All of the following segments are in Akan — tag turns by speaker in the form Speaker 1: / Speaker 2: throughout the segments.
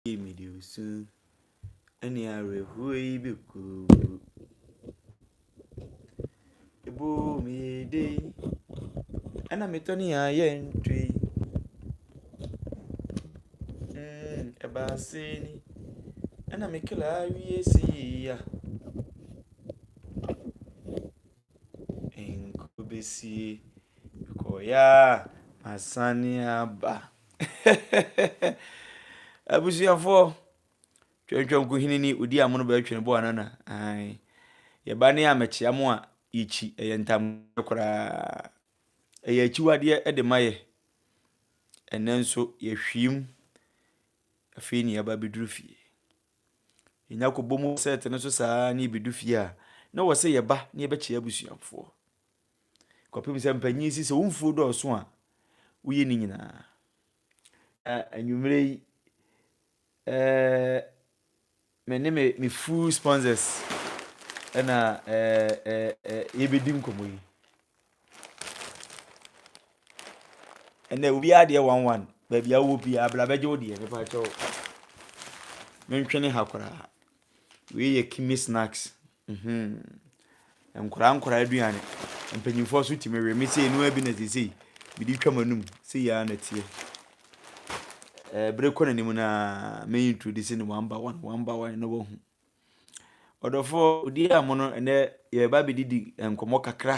Speaker 1: Ei mede wo su ne awerɛhoɔ yi bɛkɔ. Ɛbɔɔ me yɛ dei ɛna metɔ ne yɛ ayɛ ntwei. Ɛbaa sei ni ɛna me kra awie si ya. Nkɔ bɛsie mekɔeɛ a masane aba. Abusuafoɔ, Twɛntwɛn Kuhini ni odi amono bɛɛ twene bɔ anana ae. Yɛ ba ne a mɛkyea mo a yɛ kyi ɛyɛ ntameɛ koraa. Ɛyɛ akyiwadeɛ de ma yɛ. Ɛnɛ nso yɛ hwiim afei ne yɛba bɛduru fie. Yɛ nya kɔbɔ mu sɛɛte no so saa ne yɛ bɛdu fie a na wɔ sɛ yɛ ba ne yɛ bɛkyea abusuafoɔ. Kɔpem sɛ mpanyin si sɛ wo mfuo dɔɔso a woyɛ ne nyinaa. Anwummere yi, me ne me me full sponsors na yɛbɛdi nkɔmmɔ yi. Ɛnna obiara deɛ one one baabi a wowɔ biara abla bɛgye wo deɛ mepa kyɛw mentwene ha koraa wei yɛ kimi snacks Mhmm nkwadaa nkwadaa aduane mpanyinfoɔ nso tumi we me sei noa bi na seisei mede twa m'anum sei ara na ɛteɛ ɛɛ bere kɔ n'anim no ara mɛ introduce no one by one one by one na wahu ɔdɔfoɔ odi a mo no ɛnɛ yɛreba abɛdidi nkɔmmɔ kakra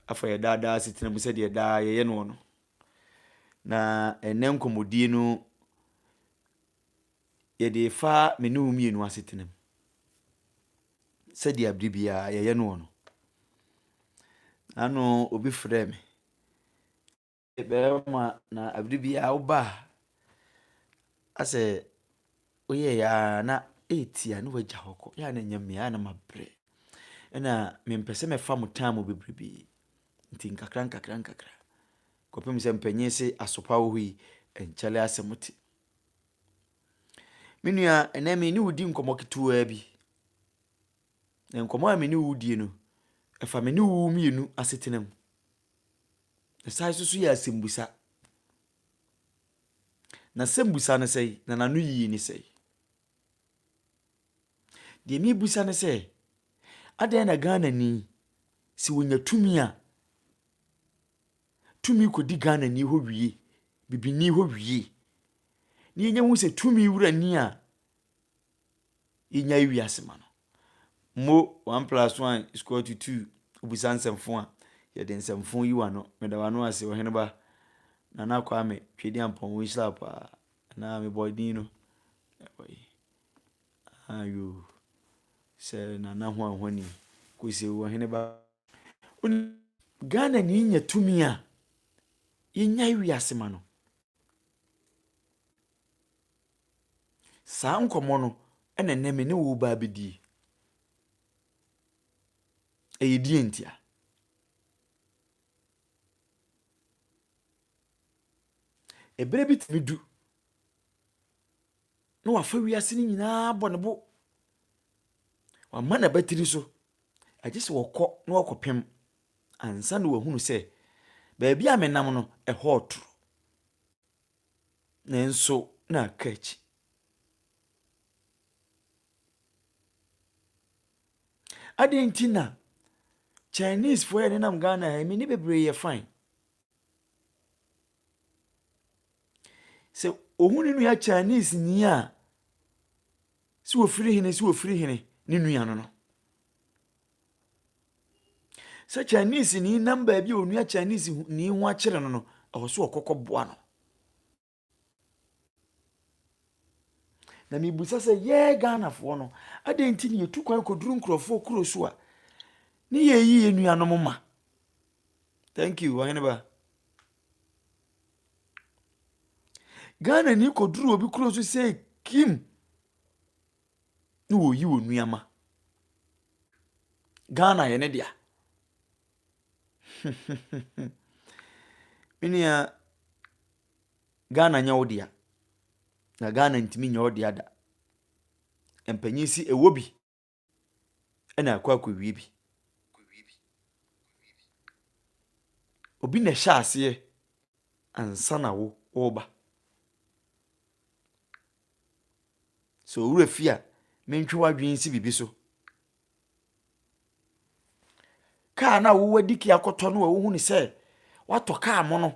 Speaker 1: afa yɛ daadaa asetena mu sɛdeɛ daa yɛyɛ noɔ no na ɛnɛ nkɔmmɔdie no. yɛde refa me ne wo mmienu asetena mu sɛdeɛ bere biara yɛyɛ no wɔ no ano obi frɛ me bɛrima na bere biara woba a asɛ woyɛ yɛ ara na ɛretia ne wagya hɔ kɔ yɛ a na ɛnyɛ mmea a na mabrɛ ɛna mempɛ sɛ mɛfa mo tan mu bebrebe nti nkakra nkakra nkakra kɔpem sɛ mpanyin se asopa wɔ hɔ yi nkyɛlɛ asɛm te Me nua, ɛnɛ me ne wo di nkɔmmɔ ketewaa bi. Na nkɔmmɔ a me ne wo die no, ɛfa me ne wo mmienu asetena mu. Ɛsan nso so yɛ asɛmmisa. Na asɛmmisa no sɛn, na n'ano yie ne sɛn? Deɛ mebisa ne sɛ, adɛn na Ghanani, sɛ ɔnya tumi a, tumi kɔdi Ghanani hɔ wie, bibini hɔ wie, na yɛnya hu sɛ tumi wura ni a yɛnya ewi ase ma no. Mo one plus one is equal to two, obisa nsɛmfo a, yɛde nsɛmfo yi wa no, meda wano ase, ɔhene ba, nana kwame, twedi ampɔn, wo nhyira paa, anaa mebɔ din no, ɛwɔ yi, ayo, sɛ nana ho ahoni, kɔsi ɔhene ba. Ghana ni nya tumi a yɛnyae wiase ma no. Saa nkɔmmɔ no na nnɛ me ne wo reba abɛdie. Ɛyɛ deɛ ntia? Ɛberɛ bi tumi du na wafa wiase no nyinaa bɔ ne bo. Wama n'abatiri so Ɛgye sɛ wɔkɔ na wɔkɔpem ansa na wɔahunu sɛ baabi a menam no, ɛhɔ retoro. Nanso na aka akyi. Adɛn nti na Chinesefoɔ a nenam Ghana ha yi, me ne bebree yɛ fine. Sɛ ohun ne nua Chinese ni a, sɛ ofiri hene sɛ ofiri hene ne nua no no. Sɛ Chinese ni nam baabi a onua Chinese ni ho akyerɛ no no, ɛwɔ so ɔkɔkɔ boa no. Na mebisa sɛ yɛɛ Ghanafoɔ no, adɛn nti na yɛtu kwan kɔduru nkurɔfoɔ kuro so a ne yɛyi yɛ nuanom ma? Thank you, ɔhene ba. Ghana ni kɔduru obi kuro so sɛ kim ne wɔyi wɔ nuama. Ghana yɛ ne dea. Menua Ghana nyɛ wo dea, na Ghana ntumi nyɛ wo dea da. Mpanyin se ɛwɔ bi na akɔ akɔwie bi. Obi na ɛhyɛ aseɛ ansa na wo woreba. Sɛ wo werɛ fi a, mentwe w'adwene nsi biribi so. Kaa no a wowadi ke akɔtɔ no a wohunu sɛ woatɔ kaa mono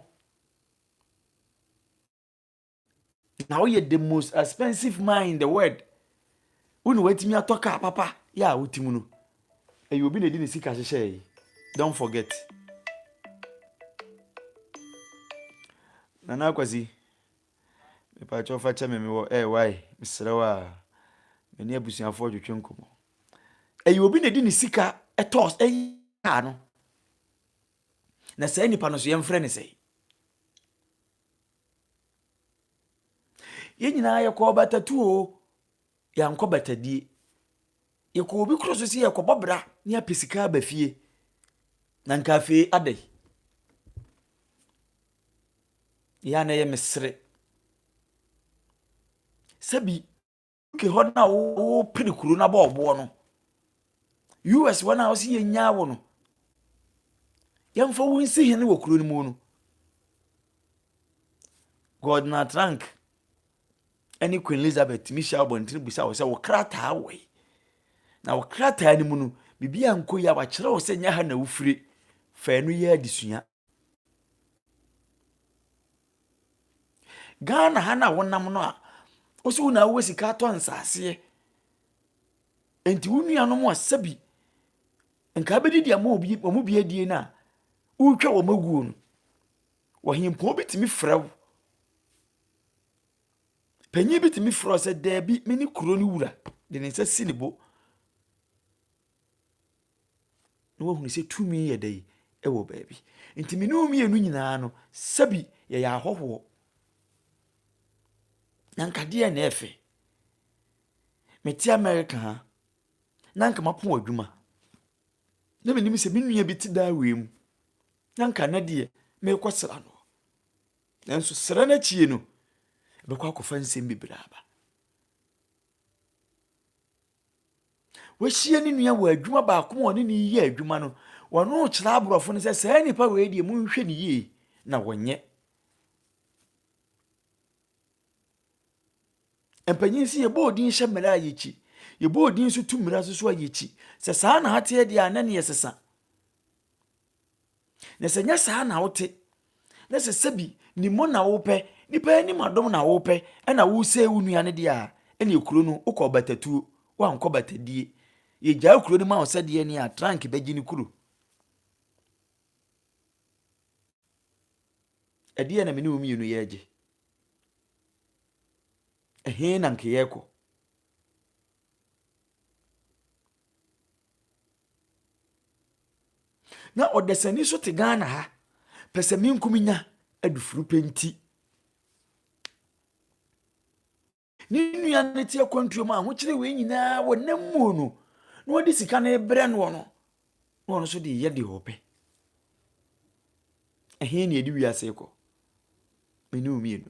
Speaker 1: na woyɛ the most expensive man in the world wo na woatumi atɔ kaa papa yɛ a wotim no ɛyɛ obi na ɛdi ne sika hyehyɛɛ yi don't forget nana akwasi Mepakyɛw fa kyɛ me mewɔ eh why mesrɛ wo aa Me ne abusuafoɔ twetwe nkɔmmɔ Ɛyɛ obi na ɛde ne sika tɔɔ car no Na saa nipa no so yɛmfrɛ ne sɛn Yɛn nyinaa yɛkɔɔ batatu o Yɛankɔ batadie. Yɛkɔ obi koro so sɛ yɛrekɔbɔ bra na yɛapɛ sika aba fie. Na nka afei adɛn? Yɛ a na ɛyɛ mesere. Sɛbi UK hɔ no a wopere kuro no abɔ ɔboɔ no, US hɔ no a wɔsi yɛnyaa wo no, yɛmfa wo nsi hene wɔ kuro no mu no, God na trank ne Queen Elizabeth tumi hyia abɔntene bisa wɔ sɛ wo krataa wɔ yi na wo krataa no mu no biribi ankɔ yi a wakyerɛ wo sɛ nyɛ ha na wofiri fa ɛno yɛ adesua ghana ha no a wonam no a wo so wo na wowɔ sika atɔ nsaseɛ nti wo nuanom a sɛbi nka bɛdi deɛ wɔn bi adie no a wotwa wɔn aguo no ɔhempɔn bi tumi frɛ wo Panyin bi tumi frɛ wo sɛ, Dabi, mene kuro no wura, de ne nsa si ne bo. Na wahunu sɛ tumi yɛ dɛ wɔ baabi. Nti me ne wo mmienu nyinaa no, sɛbi yɛyɛ ahɔhoɔ. Na nkadeɛ na ɛfɛ. Mete Amerika ha, na nka mapo adwuma. Na menim sɛ me nua bi te daa wei mu, na nka ɛnɛ deɛ merekɔsra no. Nanso sra no akyi no, ɛbɛkɔ akɔfa nsɛm bebree aba. Wahyia ne nua wɔ adwuma baako mu a ɔne ne yɛ adwuma no, wɔno rekyerɛ aborɔfo no sɛ saa nipa wei deɛ monhwɛ ne yie na wɔnyɛ. Mpanyin si yɛbɔ odin hyɛ mmara a yɛkyi. Yɛbɔ odin nso tu mmara nso so a yɛkyi. Sɛ saa na ateɛ deɛ a na ne yɛsesa. Na sɛ nyɛ saa na wote, na sɛ sɛbi ne mu na wopɛ, nipa anim adom na wopɛ, ɛna wosɛe wo nua no deɛ a, ɛne kuro no wokɔ batatuo, woankɔ batadie. Yɛgyaa kuro no ma wo sɛdeɛ ne a trank bɛgye ne kuro. Ɛdeɛ na mene wo mmienu yɛregye. Ɛhe na nkeyɛkɔ? Na ɔdasani nso te Ghana ha. Pɛsɛmenkominya adufurupɛ nti. Ne nua no te akwantuo mu a ahokyere wei nyinaa wɔ nam mu no na wɔde sika no rebrɛ noɔ no na ɔno nso de yɛ deɛ ɔpɛ ɛhe ne ɛde wiase kɔ mene wo mmienu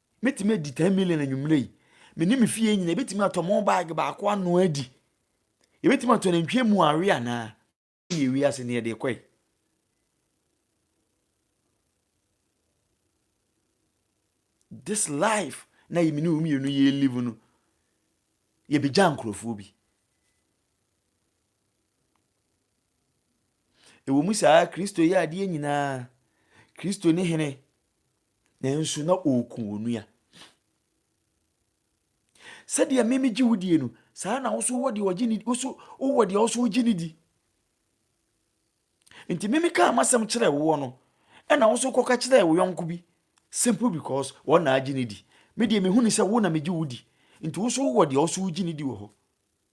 Speaker 1: Mɛtumi adi ten million anwummerɛ yi. Me ne me fie nyinaa yɛbɛtumi atɔ mo bag baako anoa adi. Yɛbɛtumi atɔ nantwie mu awe anaa? Yɛ wiase ne yɛde kɔe. This life na yɛ me ne wo mmienu yɛ live no yɛbɛgya nkurɔfoɔ bi. Ɛwɔ mu saa Kristo yɛ adeɛ nyinaa. Kristo ne hene. Nanso na ɔreku onua. Sɛdeɛ me megye wo die no, saa ara na wo so wɔ deɛ ɔgye ne wo so wowɔ deɛ wo so wogye ne di. Nti me mekaa m'asɛm kyerɛɛ woɔ no, ɛna wo so kɔka kyerɛɛ wo yɔnko bi. Simple because wɔn na agye ne di. Me deɛ mehu ne sɛ wo na megye wo di. Nti wo so wowɔ deɛ wo so wogye ne di wɔ hɔ.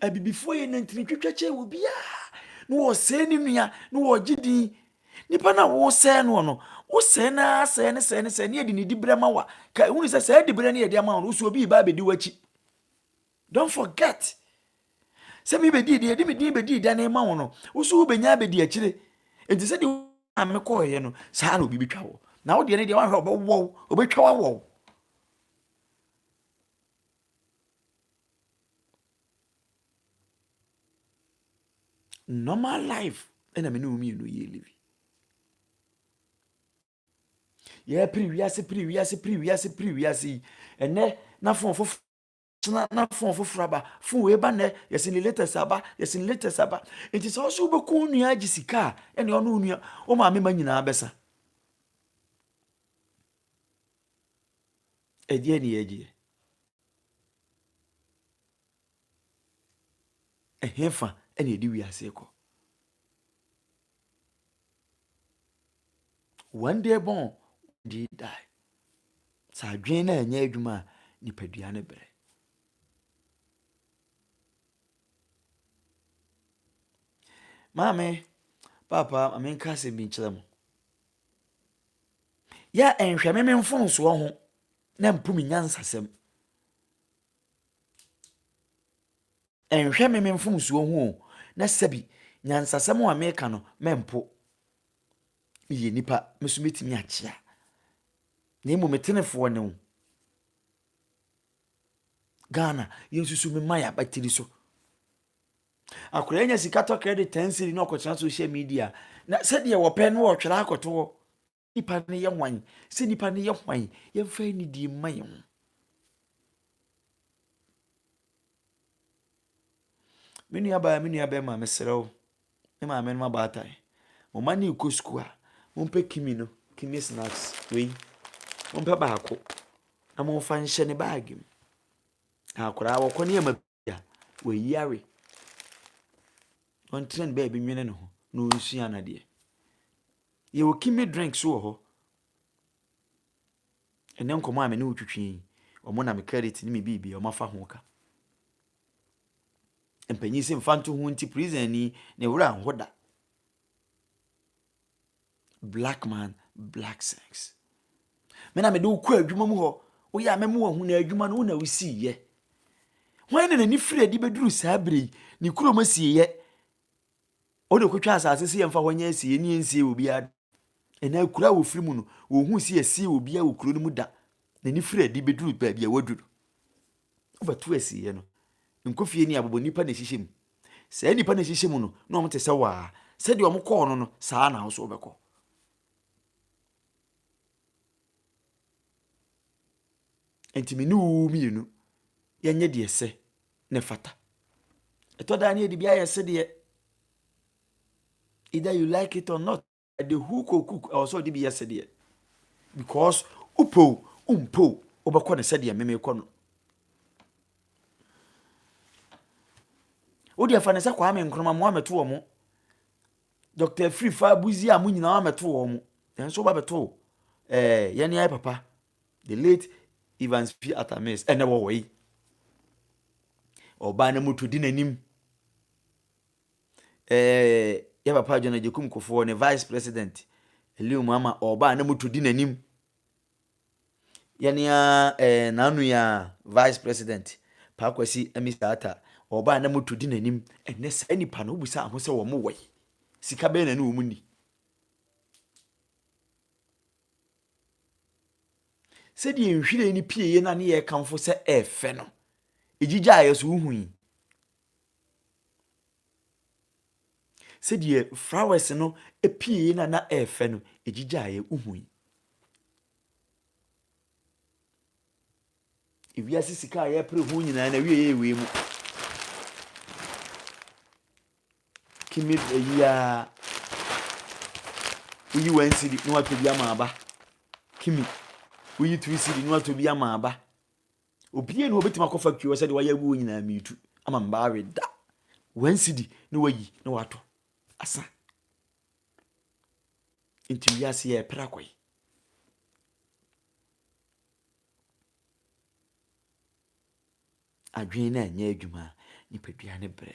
Speaker 1: abibifoɔ yɛ nantini twitwa kyɛ wɔ biara na wɔsɛe ne nua na wɔgye din nipa no a wɔsɛe no no wosɛe no ara sɛe ne sɛe ne sɛe ne yɛde ne diberɛ ma wa ka ɛhu ne sɛ sɛe diberɛ no yɛde ama wo no wosɛ obi ba abɛdi w'akyi don't forget sɛ mebɛdii deɛ yɛde me din bɛdii da ne ma wo no wo so wobɛnya abɛdi akyire enti sɛ deɛ a mekɔɔyɛ no saa na obi bɛtwa wɔ na wodeɛ no deɛ woahwɛ ɔbɛwɔw ɔbɛtwa wawɔw Normal life ɛna me ne wɔn mmienu yɛ livi. Yɛ piri wiase piri wiase piri wiase piri wiase yi ɛnɛ na fon foforɔ na na fon foforɔ aba fon wei ba nɛ yɛsi ne latest aba yɛsi ne latest aba nti sɛ ɔsɛ wobɛkɔ onua agye sika a ɛne ɔno onua wo maame ma nyinaa bɛsa. Ɛdeɛn ne yɛgyeɛ? Ɛhefa ɛna ɛde wiase kɔ? One day born, one day die. Sɛ adwene no ɛnyɛ adwuma a nipadua no brɛ. Maame, papa, maame nka asɛm bi nkyerɛ mo. yɛ nhwɛme me mfomsoɔ ho na mpo me nyansasɛm. Nhwɛ me me mfomsoɔ ho o na sɛbi nyansasɛm a meka no mɛmpo. Meyɛ nipa me so mɛtumi akyea na mmom metenefoɔ ne wo. Ghana yɛnsusu me ma yɛ abatiri so. Akwadaa nya sika tɔ credit ten cedi na ɔkɔtena social media na sɛdeɛ wɔpɛ no ɔtwerɛ akɔto hɔ nipa no yɛ hwan sɛ nipa no yɛ hwan yɛmfa anidie mma yɛn ho me nua baa me nua bɛma mesrɛ wo me maame no ma baatae mo ma ne kɔ sukuu a mompɛ kimi no kimi snacks wei mompɛ baako na momfa nhyɛ ne baage mu na akwadaa wɔkɔ ne yɛ ma a wayare, ɔntena ne baabi nwene ne ho na ɔnsua no adeɛ. Yɛwɔ kimi drink so wɔ hɔ. Ɛnɛ nkɔmɔ a me ne wo twitwi yi, ɔmo na me credit ne me biribi ɔmo afa ho ka. Mpanyin sɛ mfa nto ho nti prison ni ne wura nho da. Black man, black sex. Me na mede wo kɔ adwuma mu hɔ. Woyɛ a mɛmo wahu na adwuma no wo na wosii yɛ. Hwan na n'ani firi adi bɛduru saa berɛ yi? Ne kurom asie yɛ. Wode kɔtwa asase sɛ yɛmfa hɔ nyɛ asie yɛ ne yɛnsie wɔ biara. Ɛnɛ akura a wɔfiri mu no, wɔhu sɛ yɛsie wɔ biara wɔ kuro no mu da. N'ani firi adi bɛduru baabi a wadu no. Ɔfa tu asieɛ no, nkofie ne abobo nnipa na ɛhyehyɛ mu. Saa nnipa na ɛhyehyɛ mu no, na wɔn te sɛ waa. Sɛdeɛ wɔn kɔɔ no no, saa na ahosuo bɛkɔ. Nti me ne wo mmienu, yɛnyɛ deɛ sɛ ne fata. Ɛtɔ daa ne yɛde bi ayɛ sedeɛ. Either you like it or not. The hook or cook ɛwɔ sɛ ɔde bi yɛ sɛdeɛ because wopɛ o wompɛ o wobɛkɔ no sɛdeɛ meme kɔ no wode ɛfa no sɛ kwame nkroma mo amɛto wɔ mo dr afiri fa abuzi a mo nyinaa amɛto wɔ mo nanso woba bɛto eh, yɛne ayɛ papa the late evans p atamis ɛnɛ wɔwɔ yi ɔbaa no moto di n'anim Ɛɛ yɛ papa John Agyekum Kufuor ne Vice President Aliu Muhammad ɔɔba a na moto di n'anim. Yɛne ara ɛɛ n'anua Vice President Pa Kwasi Amisa Atta ɔɔba a na moto di n'anim. Ɛnnɛ saa nnipa no wobisaa ho sɛ wɔn wɔ he? Sika bɛn na ne wɔn nni? Sɛdeɛ nhwiren no pieeɛ no a ne yɛrekamfo sɛ ɛɛfɛ no, ɛgyigyaeɛ so wohui. Sɛdeɛ flowers no pieeɛ no a na ɛyɛ fɛ no, ɛgyigyaeɛ. Wohui? Ewiase sika a yɛpere ho nyinaa na wie yɛ wei mu. Kimi ayi a woyi wɔn siri na watɔ bi ama aba. Kimi woyi tiri siri na watɔ bi ama aba. Obiara ni hɔ obetumi akɔ factory hɔ sɛdeɛ wayɛ aguo nyinaa miitu ama mbaa we da wɔn sidi na wayi na watɔ asa nti wiase yɛ ɛpere akɔ yi adwene na ɛnyɛ adwuma nipadua ne brɛ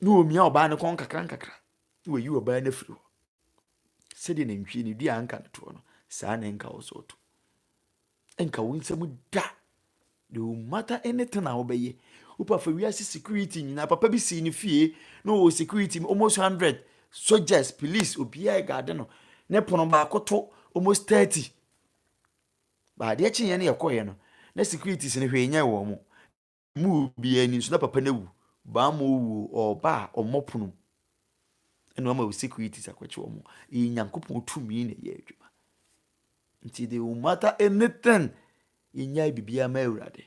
Speaker 1: na omia ɔbaa no kɔn nkakrankakra, na wayi ɔbaa no afiri hɔ. Sɛdeɛ nantwie no dua anka no toɔ no, saa na ɛnka wo so ɔto. Ɛnka wo nsam da. No matter anything a wobɛyɛ, wopa fa wiase security nyinaa, papa bi sii ne fie na ɔwɔ security almost hundred soldiers, police, obiara ɛgaade no, ne pono baako to almost thirty. Baadeɛ kyeeɛ no yɛkɔeɛ no, na securities no hwee nyɛ wɔn mo. mu obiara ni nso na papa no awu baama owu ɔba a ɔmmɔ pono ɛna ɔma securities akɔkye wɔn ɛyɛ nyankopɔn tumi na ɛyɛ adwuma nti de no matter anything yɛnyae biribiara ma awurade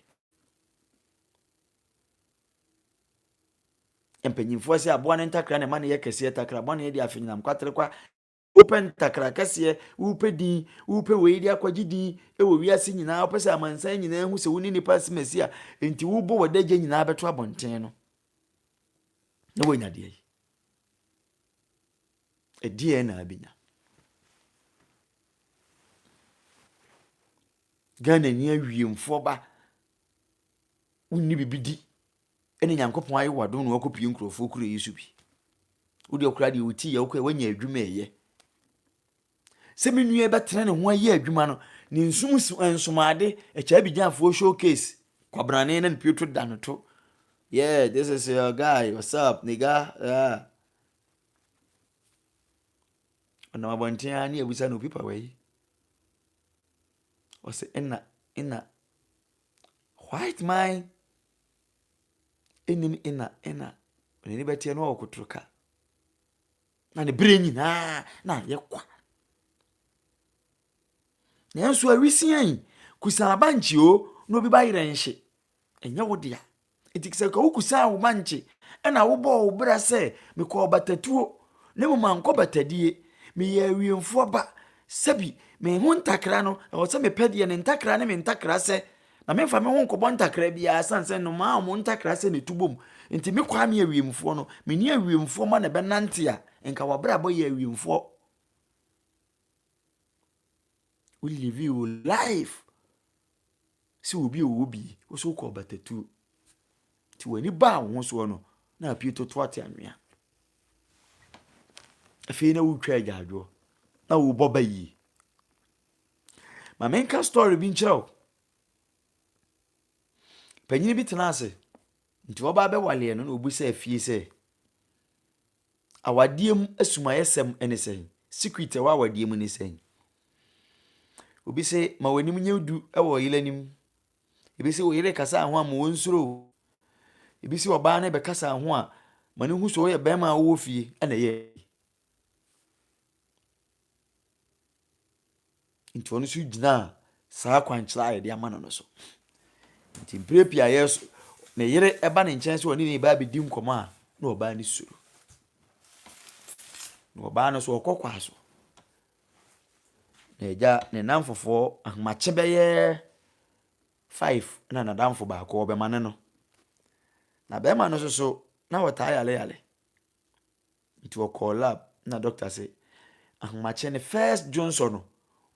Speaker 1: mpanyinfoɔ sɛ aboa no ntakra na ɛma no yɛ kɛseɛ takra aboa no yɛ de afenyinam kwatere kwa Wopɛ ntakra kɛseɛ, wopɛ din, wopɛ wei de akɔgye din wɔ wiase nyinaa, wopɛ sɛ amansan nyinaa hu sɛ wo ne nipa si Mesia, nti wobɔ w'adagya nyinaa bɛto abɔnten no na woanya deɛ yi. Ɛdeɛ na abɛnya. Ghana ni awiemfoɔ ba wonni bibi di Ɛna Nyankopɔn ayɛ wo adom na woakɔpie nkurɔfoɔ kuro yi so bi. Wodeɛ koraa deɛ wotii yɛ wokɔɛ woanya adwuma ɛyɛ. Sɛ me nua bɛtena ne ho ayɛ adwuma no ne nsum nsomaade ɛkyɛ abigyanfoɔ showcase kwabrane na ne pie to da no to. Yeah, this is your guy, what's up, nigga? Yeah. Ɔnam abɔnten ara ne abusa na obi pa wei. Ɔsɛ ɛna ɛna white man Ɛnni no ɛna ɛna n'ani bɛteɛ no ɔrekɔtoro ka na ne berɛ nyinaa na ayɛ kwa nanso awisia yi kusaa ba nkye o na obi ba yerɛ nhye ɛnyɛ wo dea nti sɛ ka wo kusaa wo ba nkye ɛna wobɔɔ wo bra sɛ mekɔɔ batatuo na mmom ankɔ batadie meyɛ awiemfoɔ ba sɛbi me ho ntakra no ɛwɔ sɛ mepɛ deɛ ne ntakra ne me ntakra sɛ Na memfa me ho nkɔbɔ ntakra biara ɛsiane sɛ nnomaa a wɔn ntakra sɛ na ɛtu bom nti me kwaa me awiemfoɔ no me ne awiemfoɔ ma na ɛbɛnante a nka wabrabɔ yɛ awiemfoɔ wo live wo life sɛ obi ɔwɔ bi wo so wokɔ ɔbatatuo nti w'ani baa wo ho soɔ no na apue toto ate anwea afei na wotwa agyaadwoɔ na wobɔ ba yie Ma menka story bi nkyerɛ wo. Panyin bi tena ase. Nti ɔbaa bɛwaleɛ no na obi sɛ afie sɛ awadeɛ mu asumayɛsɛm ne sɛn? Secret ɛwɔ awadeɛ mu ne sɛn? Obi sɛ ma w'anim nyɛ du wɔ ɔyere anim. Ebi sɛ ɔyere kasa ho a ma wɔn nsoro. Ebi sɛ ɔbaa no bɛkasa ho a ma no hu sɛ ɔyɛ bɛrima a ɔwɔ fie ɛna ɛyɛ. Nti ɔno nso gyinaa saa akwankyerɛ a yɛde ama no no so. Nti mprɛ pii a yɛs ne yere ba ne nkyɛn sɛ ɔne ne ba bɛdi nkɔmɔ a na ɔbaa no suro. Na ɔbaa no so ɔkɔ kwa so. Na agya ne namfofoɔ ahomakye bɛyɛ five na n'adamfo baako ɔbɛma ne no. Na bɛrima no nso so na ɔtaa yale yale. Ntsi ɔkɔr lab na dɔkta se, Ahomakyɛ ne first dwonsɔ no,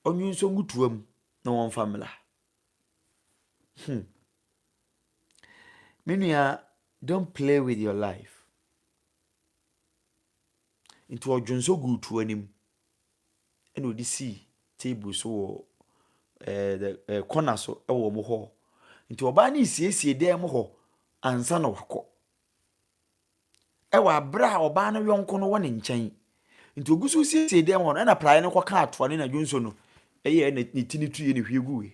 Speaker 1: ɔnwonsɔ ngu toa mu na wɔmfa mbra. Hmm. Me nua, don't play with your life. Ntsi ɔdwonsɔ guu toa no mu na ɔde sii table so wɔ ɛɛ the ɛɛ corner so wɔ wɔn hɔ. Nti ɔbaa no resiesie dan mu hɔ ansa na wakɔ. wɔ abere a ɔbaa no yɔnko no wɔ ne nkyɛn. Nti ogu so siesie dan hɔ no, ɛna praeɛ no kɔka atoa ne na dwonsɔ no ɛyɛ ne, ne ti ne tuiɛ ne hwie guiɛ.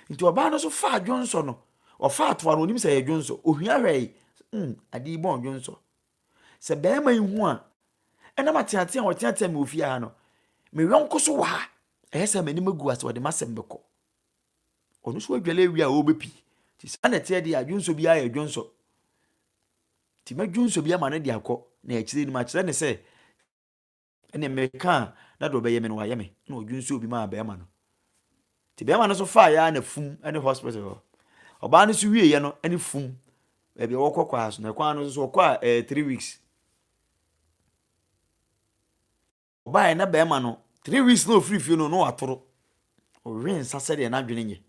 Speaker 1: Nti ɔbaa no so faa dwonsɔ no, ɔfa atoa no, onim sɛ ɛyɛ dwonsɔ, ohia hwɛe, mm, ade yi bɔn dwonsɔ. Sɛ bɛrima yi hu a, ɛnam ateatea a ɔteatea me wɔ fie ha no, me yɔnko so wɔ ha, ɛyɛ sɛ m'anim agu ase, ɔde m'asɛm bɛkɔ. Ɔno so adwale awie a ɔrebɛpi. Nti saa na ɛteɛ deɛ a, dwonsɔ biara yɛ dwonsɔ. Nti mɛdwonsɔ bi ama no de akɔ, na akyire no makyerɛ no sɛ, ɛnneɛ meka a, na deɛ ɔbɛyɛ me no wayɛ me, na ɔdwonsɔɔ bi maa barima no. Nti barima no nso faeɛ ara na fum ne hospital hɔ. Ɔbaa no nso wieeɛ no ne fum baabi a wɔkɔ kɔ ara so, na kwan no nso ɔkɔ a ɛyɛ three weeks. Ɔbaeɛ na barima no, three weeks na ɔfiri fie no, na watoro. Ɔwe nsa sɛdeɛ n'adwene nyɛ.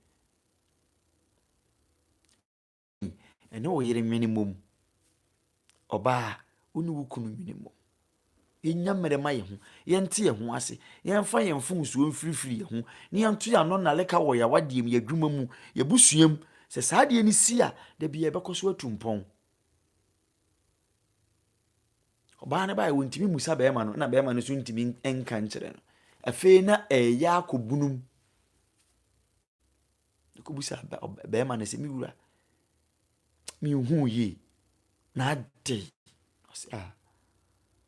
Speaker 1: Ɛne wo yere nwene mmom. Ɔbaa, wo ne wo kunu nwene mmom. Yɛnya mmerɛ ma yɛn ho, yɛnte yɛn ho ase, yɛmfa yɛn mfomsoɔ mfirifiri yɛn ho, na yɛnto yɛn ano nnaleka wɔ yɛn awadeɛ mu, yɛn adwuma mu, yɛn abusua mu. Sɛ saa adeɛ no si a, da biara yɛbɛkɔ so atu mpɔn. Ɔbaa no baeɛ, wɔntumi mmusa barima no, na barima no nso ntumi nka nkyerɛ no. Afei na ɛreyɛ akɔbunum. Ɔkɔbisaa barima no sɛ, me wura, menhuu yie, na adɛn? Ɔse, ah,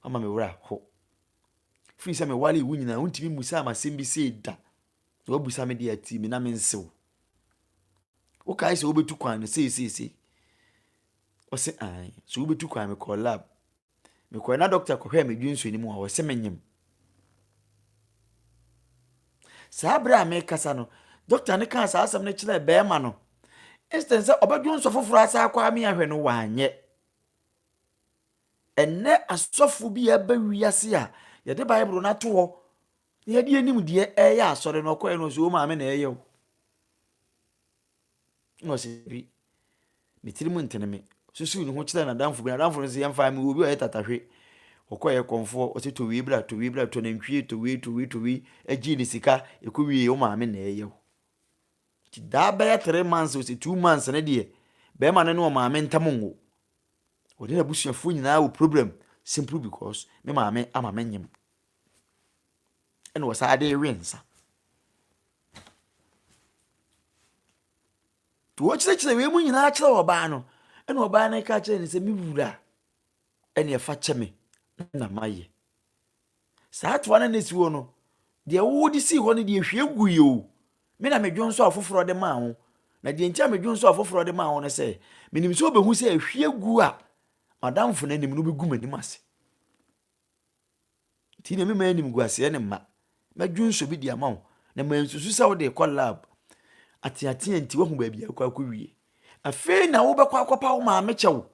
Speaker 1: ama me wura ho. Firi sɛ mewale wo nyinaa, wontumi mmusaa me asɛm bi sei da. Na woabusa me deɛ atii me na mensew. Wokae sɛ wobɛtu kwan no sei sei sei. Ɔse, ae, so wobɛtu kwan mekɔɔ lab. Mekɔe na dɔkta kɔhwɛɛ me dwensɔ no mu a, ɔse menyem. Saa bere a mekasa no, dɔkta no kaa saa asɛm no kyerɛɛ bɛrima no. Instead sɛ ɔbɛdwonsɔ foforɔ asa akɔ ami ahwɛ no, wanyɛ. Ɛnnɛ asɔfo bi a ɛba wiase a yɛde Bible no ato hɔ na yɛde anim deɛ ɛyɛ asɔre no ɔkɔɛ no ɔsɛ o maame na ɛyɛ o. Ɛna ɔsi bi, ne tiri mu ntene me. Susu ne ho kyerɛ n'adamfo bi. N'adamfo no sɛ yɛn fa mi wɔ obi a ɔyɛ tatahwe. Ɔkɔ yɛ kɔnfoɔ, ɔsi to wei bra, to wei bra, to nantwie, to wei, to wei, to wei. Ɛgye ne sika, ɛkɔ wie, o maame na ɛyɛ o. Ti daa bɛyɛ three months, ɔsi two months ne deɛ, bɛrima no ne ɔmaame ntam nwo. Ɔde n'abusuafoɔ nyinaa wɔ problem, simple because me maame ama me nyem. ɛna wɔsan de we nsa. Nti wɔkyerɛkyerɛ wei mu nyinaa kyerɛ ɔbaa no, ɛna ɔbaa no ka kyerɛ no sɛ, me wura, ɛne ɛfa kyɛ me na mayɛ. Saa toa no na si hɔ no, deɛ wode sii hɔ no deɛ hwie gu yɛ o, me na medwo nso afoforɔ de maa ho. Na deɛ nti a medwo nso afoforɔ de maa ho no sɛ, menim sɛ wobɛhu sɛ ahwie gu a madamfo no anim no bɛgu m'anim ase. Nti na mema animguaseɛ ne mma. Mɛdwonsɔ bi de ama wo, na mansusu sɛ wode rekɔ lab ateatea nti woahu baabi a wokɔ akɔwie. Afei na wobɛkɔ akɔpa wo maame kyɛw.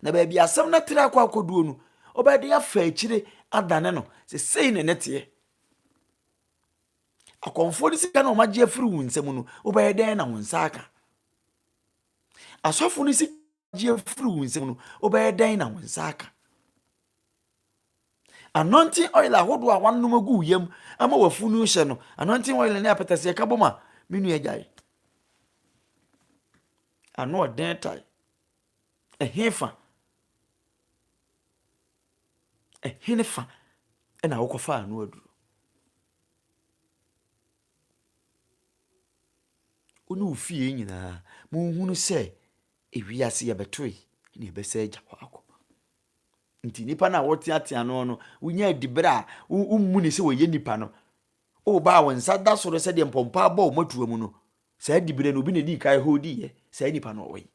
Speaker 1: Na baabi asɛm no tra akɔ akɔduo no, wobɛde afa akyire adane no. Sesei ne ne teɛ. Akɔmfoɔ no sika na wɔagye afiri wo nsam no, wobɛyɛ dɛn na wo nsa aka? Asɔfo no sika gye afiri wo nsam no wobɛyɛ dɛn na wo nsa aka anointing oil ahodoɔ a wanom agu yam ama wafunu hyɛ no anointing oil ne apɛtɛseɛ ka bɔ ma me nua gyae ano ɔden tae ɛhe fa ɛhe ne fa ɛna wokɔfa ano aduro wo ne wo fie nyinaa monhunu sɛ Ewiase yɛbɛtoe na yɛbɛsan agya hɔ akɔ. Nti nipa no a wɔteatea no no, wonya adibere a wommu ne sɛ wɔyɛ nipa no, woba a wɔn nsa da so no sɛdeɛ mpɔmpɔ abɔ wɔn atua mu no, saa adibere no obi na ɛdii kan hodiiɛ, saa nipa no ɔwɔ yi.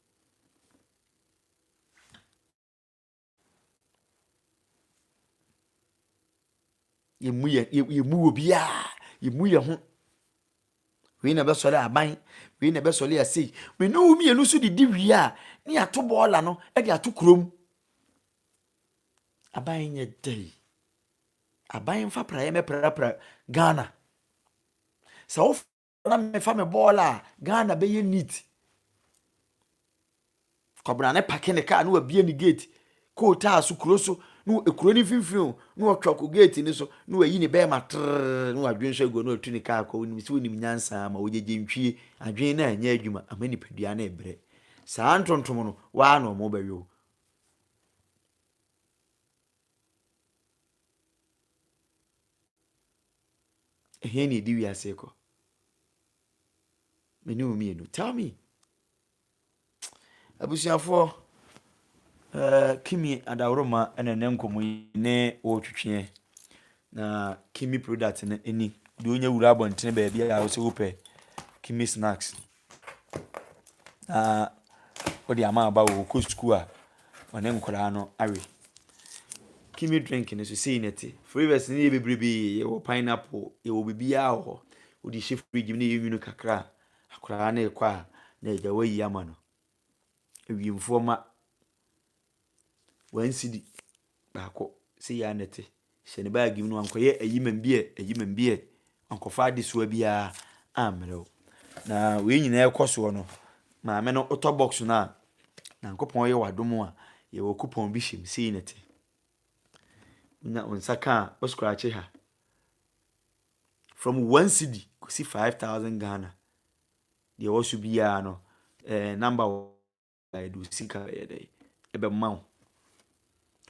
Speaker 1: yɛmu yɛ yɛmu wɔ biara yɛmu yɛ ho wei na ɛbɛsɔre aban wei na ɛbɛsɔre asei wei ne wo mmienu nso de di wie a ne yɛato bɔɔla no de ato kurom aban nyɛ dɛ yi aban mfa praeɛ mɛprapra ghana sɛ wo na mefa me bɔɔl a ghana bɛyɛ neat kɔbena ne pake ne kaa na wabie ne gate koo taa so kuro so na ekuro ne mfimfini o na ɔtwa kɔ gate ne so na wayi ne bɛrima trrr na wadwen so agu na ɔtu ne kaa kɔ onim sɛ onim nyansa ama ɔgyegye ntwie adwen na ɛnyɛ adwuma ama nipadua na ɛbrɛ saa ntontom no waa na ɔmo bɛyɛ o Ɛhe na ɛdi wiase rekɔ? Me ne wo mmienu. Tell me. Abusuafoɔ, uh, Kimi Adaworoma ɛna ne nkɔmmɔ yi ne wɔretwetweɛ na Kimi product no ɛni. Deɛ ɔnyɛ wura abɔntene baabi a wo sɛ wopɛ Kimi snacks. na wode ama aba wɔ ɔkɔ sukuu a ɔne nkwadaa no awe. Kimi drink no nso sei na ɛte. Flavours no yɛ bebrebe, yɛwɔ pineapple, yɛwɔ biribiara wɔ hɔ. Wode hyɛ fridge mu na ɛyɛ nwunu kakra a, akwadaa no rekɔ a na agya woayi ama no. awiemfoɔ mma. One cedi baako, sei ara na ɛte. Hyɛ ne baage mu na wankɔyɛ ayimambiɛ ayimambiɛ, wankɔfa adesoa biara ammrɛ wo. Na wei nyinaa rekɔ soɔ no, maame no wotɔ box no a, Nyankopɔn yɛ wo adom a, yɛwɔ coupon bi hyɛ mu, sei na ɛte. Wonya wo nsa ka a, wo scratch ha. From one cedi kɔsi five thousand Ghana. deɛ ɛwɔ so biara no ɛɛ eh, namba wɔ ɛde osi ka ɛyɛ dɛ ɛbɛma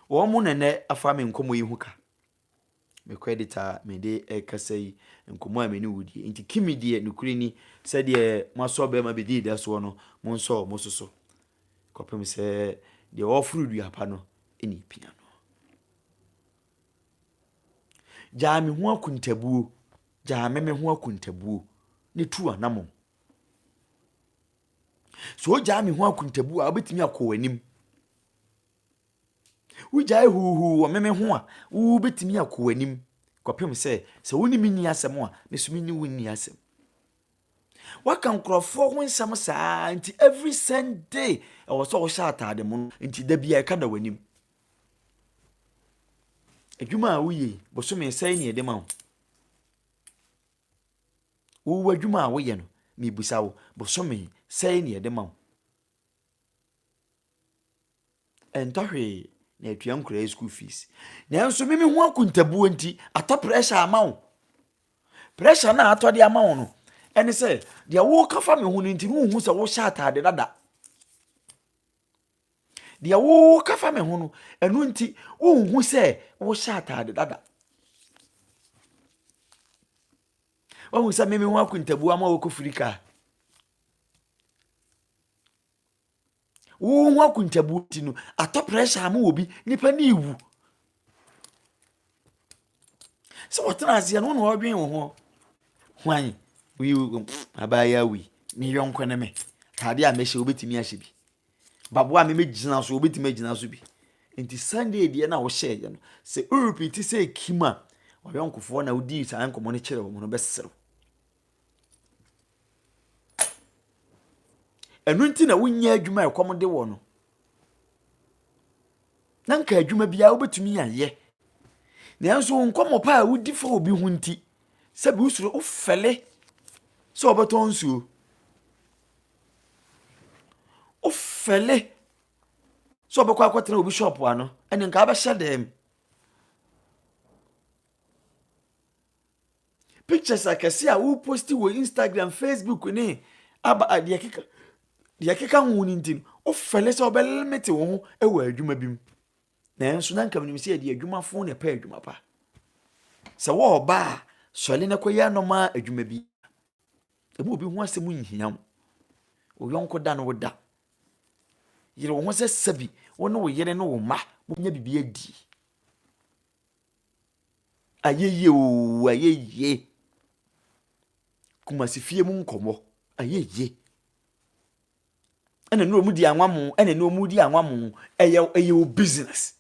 Speaker 1: wo wɔn mo nɛnɛ afa me nkɔmɔ yi ho ka me credit a mede ɛkasa yi nkɔmɔ a me ne wo die nti kimi deɛ nokuri ni sɛdeɛ mo asɔ bɛrima bɛdi da soɔ no mo nsɔ mo soso kɔpem sɛ deɛ ɔforo dua pa no ɛne pia no Gyaa me ho akontabuo, gyaa me me ho akontabuo ne tu anamɔn. Sɛ ogyaa me ho akontabuo a, wobɛtumi akɔ w'anim. Wogyae huuhuu wɔ me me ho a, wobɛtumi akɔ w'anim kɔpem sɛ sɛ wo ne me nni asɛm a, me nso me ne wo nni asɛm. Waka nkurɔfoɔ ho nsɛm saa nti every Sunday ɛwɔ sɛ wohyɛ ataade mono nti da biara ɛka da w'anim. Adwuma a woyɛ yi, bosome sɛn na yɛde ma wo? Wo w'adwuma a woyɛ no, mebisa wo, bosome sɛn na yɛde ma wo? Ɛntɔ hwee na atua nkwadaa yi school fees. Nanso me mehu akontabuo nti, atɔ pressure ama wo. Pressure no a atɔ de ama wo no, ɛne sɛ deɛ woka fa me ho no nti, wonhu sɛ wohyɛ ataade dada. deɛ woka fa me ho no ɛno nti wonhu sɛ wohyɛ ataade dada wahu sɛ meme ho akontabu ama wɔkɔ firi kaa wo ho akontabu ti no atɔ pressure ama obi nipa ne ewu sɛ wɔtena aseɛ no wo na wɔdwen wo ho hwan abaayɛ awi me yɔnko ne me atade a mɛhyɛ wobɛtumi ahyɛ bi baboa a memɛgyina so wobɛtumi agyina so bi nti sunday deɛ na wohyɛeɛ no sɛ worepiti sɛ kim a ɔyɔnkofoɔ na wodii saa nkɔmmɔ no kyerɛ wɔ mu no bɛserew Ɛno nti na wonyɛ adwuma a ɛkɔm de wɔ no. Na nka adwuma biara wobɛtumi ayɛ. Nanso wo nkɔmmɔ pa a wodi fa obi ho nti, sɛ bi wosuro wofɛle sɛ wɔbɛtɔ nsuo. Wofɛle sɛ wɔbɛkɔ akɔtena obi shop ano, ɛne nka abɛhyɛ dɛm. pictures akɛse a wo post wɔ instagram facebook ne aba deɛ keka deɛ keka ho no nti no wofɛle sɛ wobɛlemete wo ho wɔ adwuma bi mu nanso na nka menim sɛ yɛde adwumafo na ɛpɛ adwuma pa sɛ wɔɔba a sɔle no kɔyɛ anɔma adwuma bi ɛmu obi ho asɛm nhia wo wo yɔnko da no wo da yere wo ho sɛ sɛbi wo ne wo yere ne wo mma mobɛnya biribi adie Ayɛyie oo ayɛyie. Kumasi fie mu nkɔmɔ ayɛyie. Ɛna ne wɔn di anwamo ɛna ne wɔn di anwamo ɛyɛ ɛyɛ o business.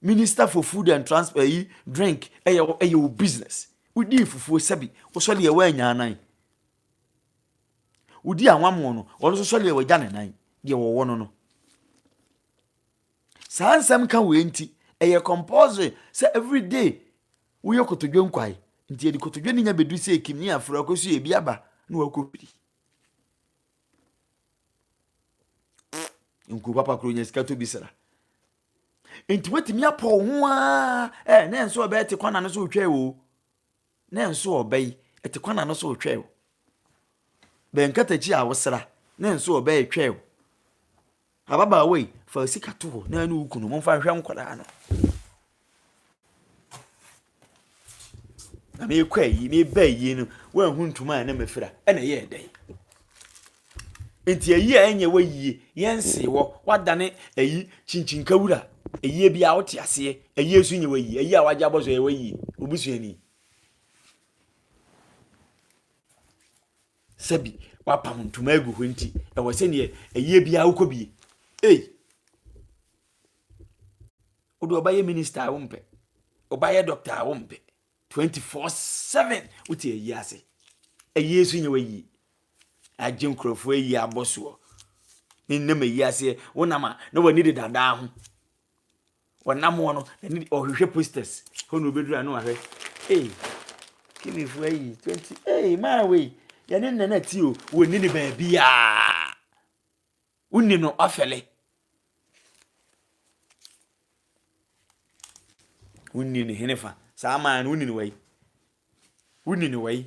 Speaker 1: Minister for food and transport ɛyi eh, drink ɛyɛ ɛyɛ o business. Wodi fufuo sɛbi wosɔ deɛ wɔanya anan. Wodi anwamo no wɔn nso sɔ deɛ wɔagya ne nan deɛ wɔwɔ no no. Saa nsɛm ka wei nti, ɛyɛ compulsory sɛ every day woyɛ kotodwe nkwae. Nti yɛde kotodwe no nya bɛdu sɛ ɛkim ne afrɛ ɔkɔ so yɛ bi aba na wakɔ firi. Nkuo papa koro nya sika tɔ bi sra. Nti woatumi apɔ wo ho aa, eh, na ɛnsɛ ɔbɛɛ te kwana no so retwa ɛwɔ o. na nso ɔbɛ yi ɛte kwan na no so retwɛ o bɛn katakyi a wosra na nso ɔbɛ retwɛ o ababaawa yi fa sika to hɔ na ɛne wo kunu momfa nhwɛ nkwadaa no na meekɔ ayi meeba ayi no woanhu ntoma a na mafira ɛna ɛyɛ ɛdɛn Enti ayi a ɛnyɛ wɔ yie, yɛnsee wɔ, woadane ayi kyinkyinkɛ wura, ayie biara wote aseɛ, ayie nso nyɛ wɔ yie, ayi a wagye abɔ so ɛyɛ wɔ yie, obusuani. Sɛbi wapam ntoma agu hɔ nti, ɛwɔ sɛ neɛ ayie biara wokɔ bie. Ei! Wode ɔbɛyɛ minista a wompɛ, ɔbɛyɛ dɔkta a wompɛ, twenty four seven wote ayi ase ɛyɛ nso nyɛ wayi agye nkurɔfoɔ ayi abɔ soɔ ne nam ayi aseɛ wonam a na w'ani de dadaa ho wɔnam hɔ no ɛne ɔhwehwɛ posters hɔ na obɛduru a na wahwɛ ei kinifoɔ ayi twenty ei maa wei yɛne nnɛ no ati o wɔni ne baabiaa Wonni no ɔfɛle. Wonni no henefa. Saa man no, wonni no wai. Wonni no wai.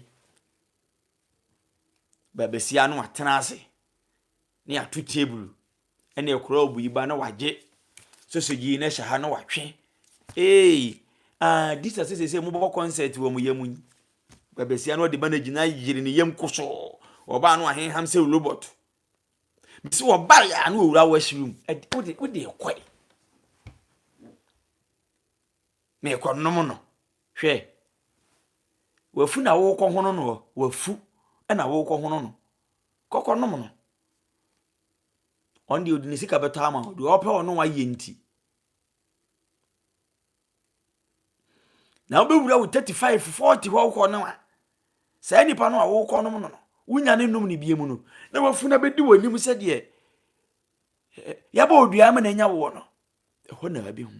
Speaker 1: Baabasia no atena ase ne ato table ɛne ɛkora obu yi ba na wagye sosogye yi na ɛhyɛ ha na watwe. Ee, ah, disa sɛ sɛ sɛ mobɔ concert wɔ mo yam yi. Baabasia no ɔde ba no agyina yere ne yam kosoo. Ɔbaa no ahenham sɛ robot. mesi wɔbae a na owura w'asiri mu wode wode kɔe na ɛkɔ nom no hwɛ wafu na wokɔ hono no wafu na wokɔ hono no kɔkɔ nom no ɔno deɛ ɔde ne sika bɛtɔ ama wo deɛ ɔpɛ ɔno wayɛ nti na wobɛwura wo 35 40 hɔ wokɔ no a saa nipa no a wokɔ nom no no wonya ne nom ne bie mu no na wafunu abɛdi w'anim sɛdeɛ yɛbɔ odua ma n'anya woɔ no ɛhɔ na abɛhu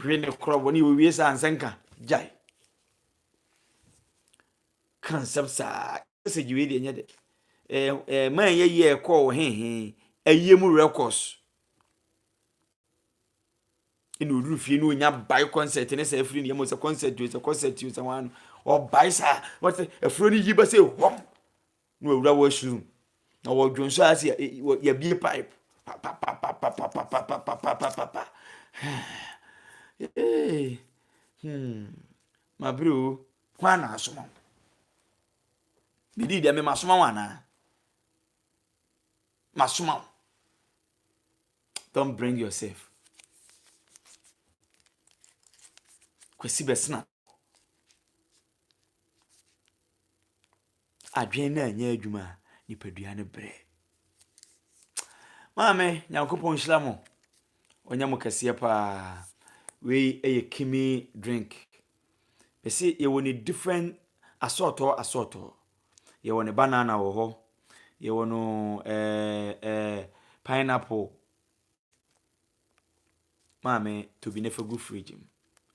Speaker 1: Hwɛ ne korɔ bɔ ne owie saa nsɛnka gyae. Ka nsɛm saa sɛ gye wei deɛ nyɛ de. Ɛɛ ɛɛ man yɛ yɛ ɛkɔɔ wɔ hehe ayie mu records. Ɛna oduru fie no onya bae concert ne sɛ afiri ne yam sɛ concert o sɛ concert o sɛ wɔn ano ɔbae saa wɔte afuro ne yi ba sɛ hɔm na wɔawura wɔ soro mu na wɔdwo nso ase yɛbie pipe papapapapapapapapapapa mabere o hwan na asoma wo bidii deɛ mema soma wo anaa masoma wo don't bring yourself kwasi bɛsena Adwene no anyɛ adwuma a, nipadua no brɛ. Maame, Nyankopɔn nhyira mo. Ɔnyɛ mo kɛseɛ paa. Wei yɛ kimi drink. Mese yɛwɔ ne different asɔɔtɔɔ asɔɔtɔɔ. Yɛwɔ ne banana wɔ hɔ. Yɛwɔ no ɛɛ eh, ɛɛ eh, pineapple. Maame, to bi na fa gu fridge mu.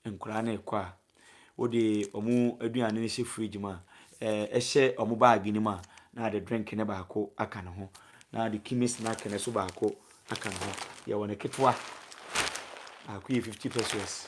Speaker 1: Nkwadaa no rekɔ a, wode wɔn aduane no hyɛ fridge mu a, ɛɛ hyɛ wɔn baage no mu a, na ade drink no baako aka ne ho, na ade kimi snack no nso baako aka ne ho. Yɛwɔ no ketewa. Baako yɛ fifty pesewas.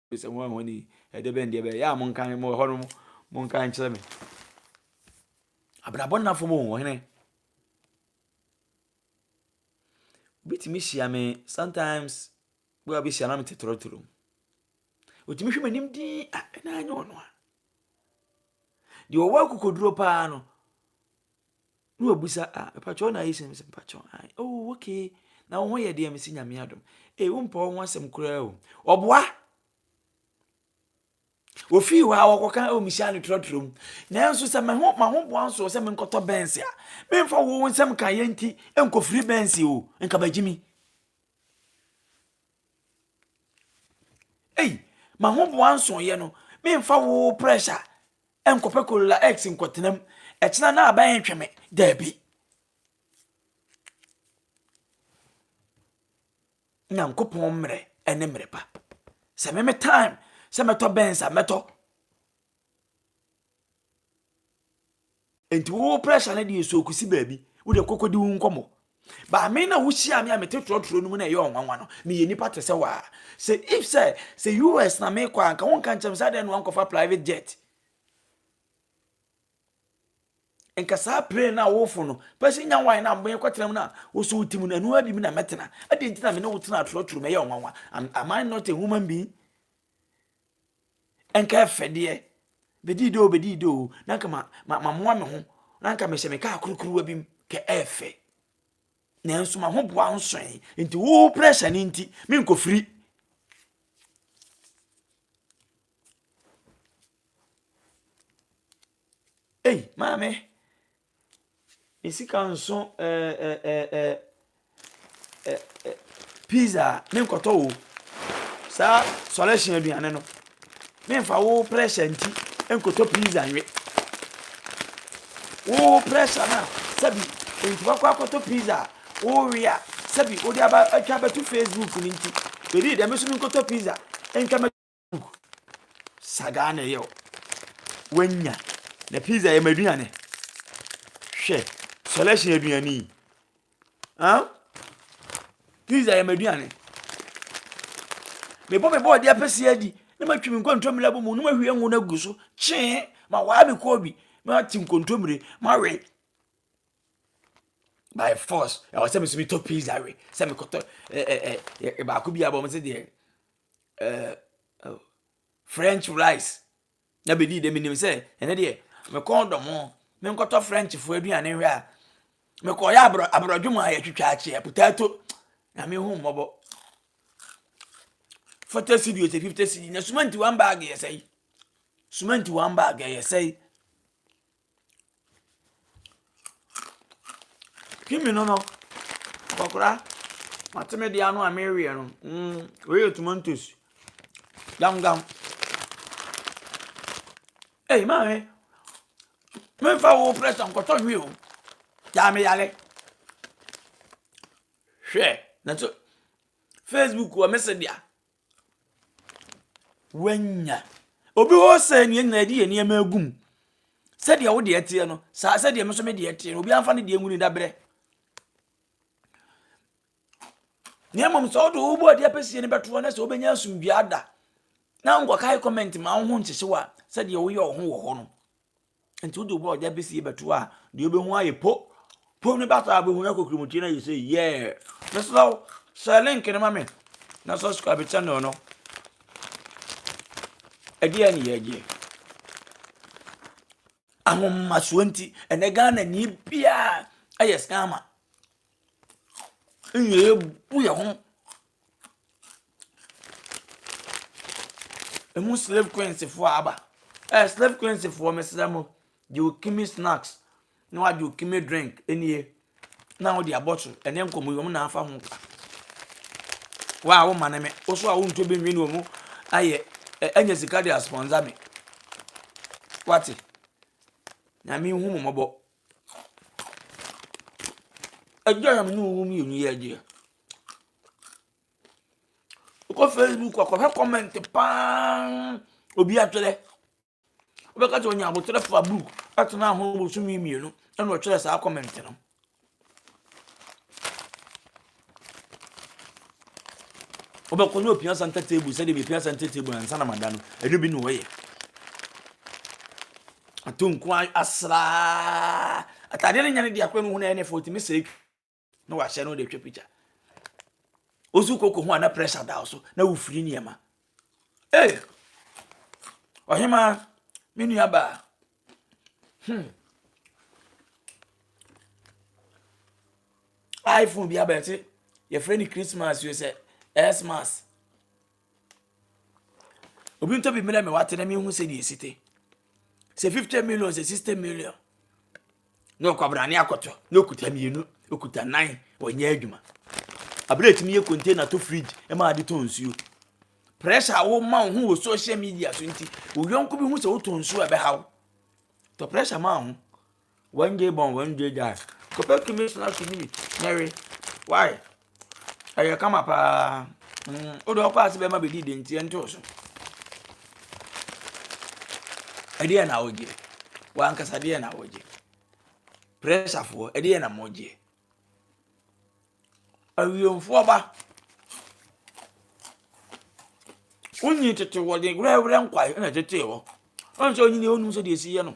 Speaker 1: Sɛ hɔn a hɔn enyi yɛ bɛn deɛ bɛyɛ, yɛ a monka he, mowɔ hɔ no monka nkyerɛ me. Abrabɔ nna fam o, ɔhene. Wobɛtumi hyia me sometimes bi a bɛhyia na mete torɔtorɔ mu. Ɔtumi hwɛ m'anim din a ɛna anyɛ ɔno a. Deɛ ɔwɔ akokoduro paa no, Na wabisa a, ah, mepakyɛ wo na ayɛ sini, mesɛ mepakyɛ wo, ah, oh, okay, na wo ho yɛ deɛ, mesi nyame adom, ee, eh, wompɛ wo ho asɛm koraa o, ɔboa, ofii hɔ a wɔkɔka ɛwɔ mehyia no trɔtrɔ mu nanso sɛ me ho ma ho boa nso sɛ menkɔtɔ bɛnse a memfa wo nsɛm ka yɛ nti nkɔfiri bɛnse o nka bagyimi Ei, m'ahoboa nsɔeɛ no, memfa wo pressure nkɔpɛ Corolla X nkɔtenam, ɛkyena na aban ntwe me, daabi. Nyankopɔn mmerɛ ɛne mmerɛ pa. Sɛ me me time sɛ mɛtɔ Benz a mɛtɔ. Nti wo pressure no deɛ so kusi baabi wo deɛ kɔkɔ di wo nkɔmmɔ baame na wohyia me a mete trɔtrɔ no mu na ɛyɛ ɔnwanwa no meyɛ nipa te sɛ waa sɛ if sɛ sɛ us na mekɔ a nka wonka nkyɛm sɛ adɛn na wankɔfa private jet nka saa plane no a wofo no pɛsɛ nya wan no a mekɔtena mu no a wosɛ wotim no ɛno abi mu na mɛtena adɛn nti na me ne wotena atorɔtoro mɛyɛ ɔnwanwa am I not a human being nka ɛfɛ deɛ bɛdii dɛ o bɛdii dɛ o na nka mamoa me ho na nka mehyɛ me kaa kurukuruwa bi mu kɛ ɛfɛ nanso ma ho boa nsoe nti wo pressure no nti menkɔfiri ei maame me sika nso ɛɛ eh, ɛɛ eh, ɛɛ eh, ɛɛ pizza me nkɔtɔ wo saa sɔlɛhyɛn aduane no me nfa wo pressure nti nkɔtɔ pizza nwe wo pressure na sɛbi nti wakɔ akɔtɔ pizza wo we a sɛbi wode aba atwa abɛto facebook no nti bɛdi dɛm so me nkɔtɔ pizza ntwa sagaa na ɛyɛ o wanya na pizza yɛ m'aduane hwɛ selection aduane yi ah pizza yɛ m'aduane mebɔ mebɔ ɔde apɛsi adi na matwi me nkontommire abɔ mu na mahwie ngo no agu so kyee ma waa me kɔɔ bi mate nkontommire mawe by force ɛwɔ sɛ mesɛ metɔ pizza we sɛ mekɔtɔ baako bi abɔ m sɛ deɛ ɛɛ ɛɛ french fries na bɛdii dɛ menim sɛ ɛnɛ deɛ mekɔn dɔ mo menkɔtɔ frenchfoɔ aduane hwɛ a mekɔyɛ aborɔ aborɔdwe mu a yɛtwitwa akyeɛ potato na mehu mmɔbɔ forty cedi ɔsɛ fifty cedi na sumanti one bag yɛ sɛe sumanti one bag yɛ sɛe Hwɛ me nono, nkɔkora, mate me deɛ ano a mereweɛ no. Mm, wei yɛ tomatoes. Gamgam. Ei, maame, memfa wo pressure nkɔtɔ nwi o. Gyaa me yale. Hwɛ, na so Facebook wɔ me se deɛ. Wanya. Obi hɔ sɛ nea nyinaa yɛde yɛ nneɛma agu mu. Sɛdeɛ wo deɛ teɛ no, saa sɛdeɛ me nso me deɛ teɛ no, obi amfa ne deɛ nwuni dabrɛ. Na mmom sɛ wode wobɔ adeɛ apɛsie no bɛtoɔ na sɛ wobɛnya asomdua ada na nkɔkae comment ma wo ho nkyekyew a sɛdeɛ woyɛ wo ho wɔ hɔ no. Nti wode wɔ ɔgya bɛsi bɛto a deɛ wobɛhu ayɛ po po no bɛasa a wobɛhu no akɔkirimutie no ayɛ sɛ yɛɛ mesrɛ wo sɛ link no ma me na subscribe channel no ɛdeɛ ne yɛgyeɛ ahomasoɔ nti ɛnɛ ghana ni biaa ɛyɛ scammer ɛna yɛbu yɛn ho ɛmu slave queens foɔ aba ɛɛ slave queens foɔ mesrɛ mo deɛ ɔkimi snacks na wagye ɔkimi drink ɛnie na wode abɔ so ɛne nkɔmmɔ yi wɔn na afa ho ka wa a woma ne me wo so a wontɔ bi nwi ne wɔn ayɛ ɛnyɛ sika de aspɔnsa me wate nyame hu mo mmɔbɔ Agya na me ne wo mmienu yɛ adeɛ. Wokɔ Facebook a, kɔhwɛ comment paa obi atwerɛ. Wobɛka sɛ ɔnya aboterɛ fa book atena ho bosome mmienu ɛna ɔtwerɛ saa comment no. Wobɛkɔ ne ɔpia santa table sɛdeɛ mepia santa table ansa na mada no ɛno bi ne ɔyɛ ato nko asraa atadeɛ no nya no de akora no hu no ɛyɛ ne fo tumi sɛ na wahyɛ no de twa pikya wosu koko ho a na pressure da so na wofiri nneɛma Ei! Ɔhemaa, me nuabaa. Hmm. iPhone bi abɛte yɛfrɛ no Christmas yo sɛ Xmas. Obi ntɔ bi mmerɛ me wate na mehu sɛ deɛ ɛsi te. Sɛ 50 million sɛ 60 million. na ɔkwabrane akɔtɔ na okuta mmienu okuta nan ɔnyɛ adwuma abere etumi yɛ container to fridge ɛma ade tɔ nsuo pressure a wɔma wo ho wɔ social media so nti oyɔnko bi ho sɛ wotɔ nsuo a ɛbɛha wo tɔ pressure ma ho wɔn gye bɔn wɔn gye gya kɔpɛ kumi sena so nyimi na we why Ɛyɛ kama paa. Mm, wode ɔkɔ ase bɛma bɛdi de nti ɛntoo so. Ɛdeɛ na wogye. Wankasa deɛ na wogye. Prɛsafoɔ, ɛdeɛ na mogye. Awiemfoɔ ba. Wonyi tete wɔde werɛwerɛ nkwae na ɛtetee hɔ. Ɔnsɛ onyini ɔnum sɛ deɛ ɛsi yɛ no.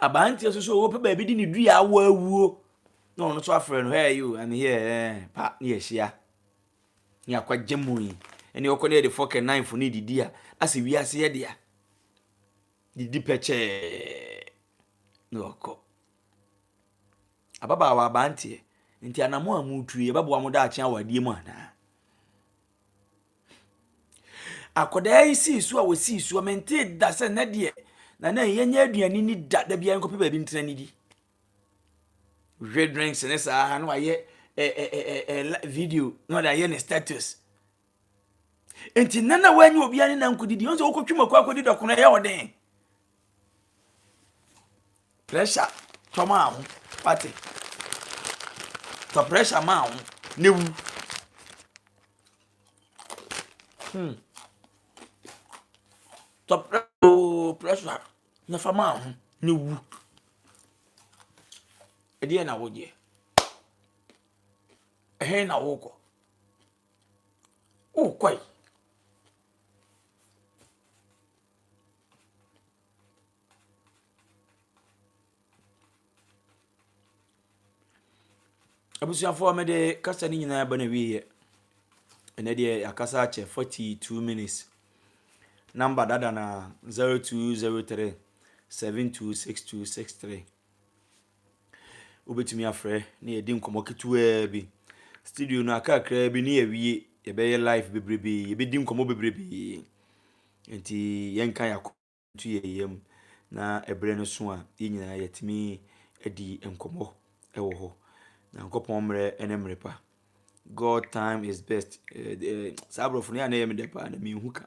Speaker 1: Aberanteɛ nso so o, ɔpɛ baabi de ne dua awɔ awuo na ɔno nso afrɛ no, Hey you, I'm here, eh, pa na yɛahyia. Ne akwagya mu yi, ɛne ɔkɔ ne yɛde fork and knife no redidi a, asɛ wiase yɛ dea. Didi pɛkyɛɛ na ɔkɔ. Ababaawa aberanteɛ, nti anamɔ a motu yi, ɛbɛboa mo daakye awadeɛ mu anaa? akwadaa yi sii so a wɔsii so a mentee da sɛ na deɛ na na yɛnyɛ aduane ni da da biara nkɔpɛ baabi ntena ne di hwɛ drinks ne saa na wayɛ eh, eh, eh, eh, video na ɔde ayɛ ne status nti nana wanyɛ obiara ne nankɔdidi ɔn sɛ wokɔtwe mu akɔ akɔdi dɔkono ɛyɛ ɔden Pressure tɔ maa ho, wate? Tɔ pressure maa ho, ne wu. Hmm. Tɔ oh, pressure na fa maa ho, ne wu. Ɛdeɛ na wodeɛ. Ɛhe na wokɔ? Wokɔe. Abusuafoɔ mede kasa no nyinaa ba no awieɛ. Ɛnɛ deɛ yɛakasa akyɛ 42 minutes. Namba dada no a 0203 726263. Wobɛtumi afrɛ na yɛadi nkɔmmɔ ketewaa bi. Studio no aka kakraa bi ne yɛawie, yɛbɛyɛ live bebrebe, yɛbɛdi nkɔmmɔ bebrebe. Nti yɛnka yɛn akoma nto yɛn yam na ɛberɛ no so a yɛn nyinaa yɛatumi adi nkɔmmɔ wɔ hɔ. Nyankopɔn mmerɛ ne mmerɛ pa. God time is best. Eh, eh, saa aborɔfo no yɛ a na ɛyɛ me dɛ paa na menhu ka.